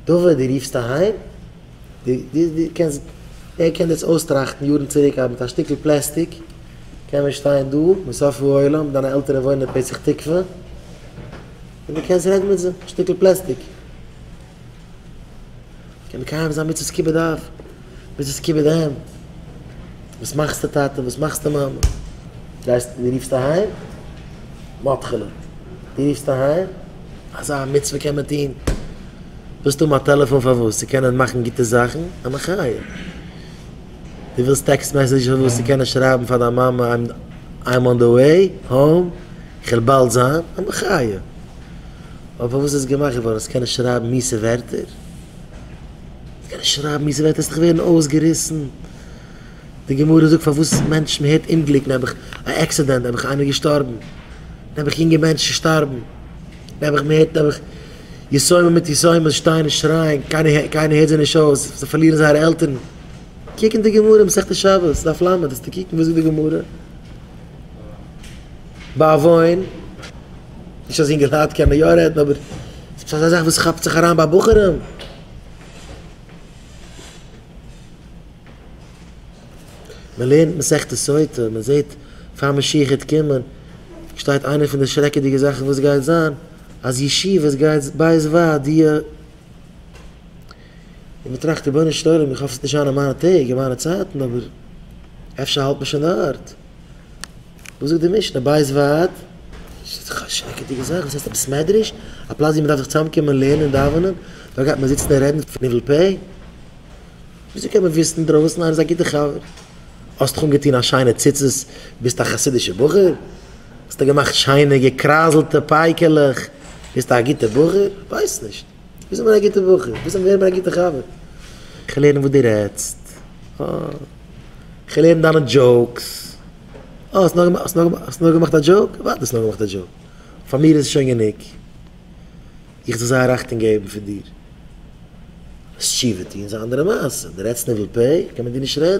דובער דו רופסט אהיים? דו קענסט, ווער קען דאס אויסטראכטן יארן צוריק אז מיט א שטיקל פלעסטיק קען מען שטיין דא מסוף העולם, דיינע עלטערן וואוינען אין פתח תקווה, און דו קענסט רעדן מיט זיי, שטיקל פלעסטיק. קען מקיים זיין מצוות כיבוד אב. ביז עס קומט ביז אהיים. וואס מאכסטו טאטע? וואס מאכסטו מאמע? גייסט דו רופסט אהיים? מתחילה. דו רופסט אהיים? אזא מצוה קען מען טון? ווילסט האבן א טעלעפאן פארוואס? צו קענען מאכן גוטע זאכן? א מחיה. דו ווילסט טעקסט מעסעדזש פארוואס? צו קענען שרייבן פאר דיין מאמע איים אן די וועי האום, איך וועל באלד זיין. א מחיה. אבער פארוואס איז עס געמאכט געווארן? אז קענען שרייבן מיעסע ווערטער? קענסט שרייבן ווי ס'וועט עס דאך ווערן אויסגעריסן. די גמרא זאגט פארוואס מענטשן מען הערט אומגליק נעבעך א עקסידענט נעבעך איינער געשטארבן נעבעך יונגע מענטשן שטארבן נעבעך מען הערט נעבעך יתומים מיט יתומות שטייען און שרייען קיינער קיינער הערט זיי נישט אויס זיי פארלירן זייערע עלטערן קוק אין די גמרא אין מסכת שבת דף ל' וועסטו קוקן וואס זאגט די גמרא בעוון נישט אז יונגעלייט קענען יא רעדן אבער ס'איז פשוט אזא זאך וואס כאפט זיך אריין ביי בחורים. מען לערנט מסכת סוטה, מען זעט פאר משיח העט קומען, שטייט איינע פון די שרעקעדיגע זאכן וואס גייט זיין, אז ישיבות גייט בית ועד י, און מען טראכט רבונו של עולם איך האף ס'וועט נישט זיין אין מיינע טעג אין מיינע צייטן אבער אפשר האלט מען שוין דארט. וואס זאגט די משנה? בית ועד? ס'איז דאך א שרעקעדיגע זאך, וואס הייסט עפעס מדרש? א פלאץ ווי מ'דארף זיך צוזאמקומען לערנען דאווענען? דארט גייט מען זיצן און רעדן פון ניבול פה? וויאזוי קען מען וויסן אינדרויסן? איינער איז א גוטער חבר? האסט דיך אנגעטון א שיינע ציצית? ביסט א חסידישע בחור? האסט דיך געמאכט שיינע געקרייזלטע פייקעלעך? ביסט א גוטע בחור? כ'ווייס נישט. ביסט אבער א גוטע בחור, ביסט אבער געווען א גוטע חבר. כ'וויל הערן וואס דו רעדסט. כ'וויל הערן דיינע דזשאוקס. אה, האסט נאר, האסט נאר, האסט נאר געמאכט א דזשאוק? וואט האסט נאר געמאכט א דזשאוק? פאר מיר איז עס שוין גענוג. איך זיך זייער אכטונג געבן פון דיר. וועסט תשובה טון איז א אנדערע מעשה. דו רעדסט ניבול פה, קען מען דיר נישט רעדן.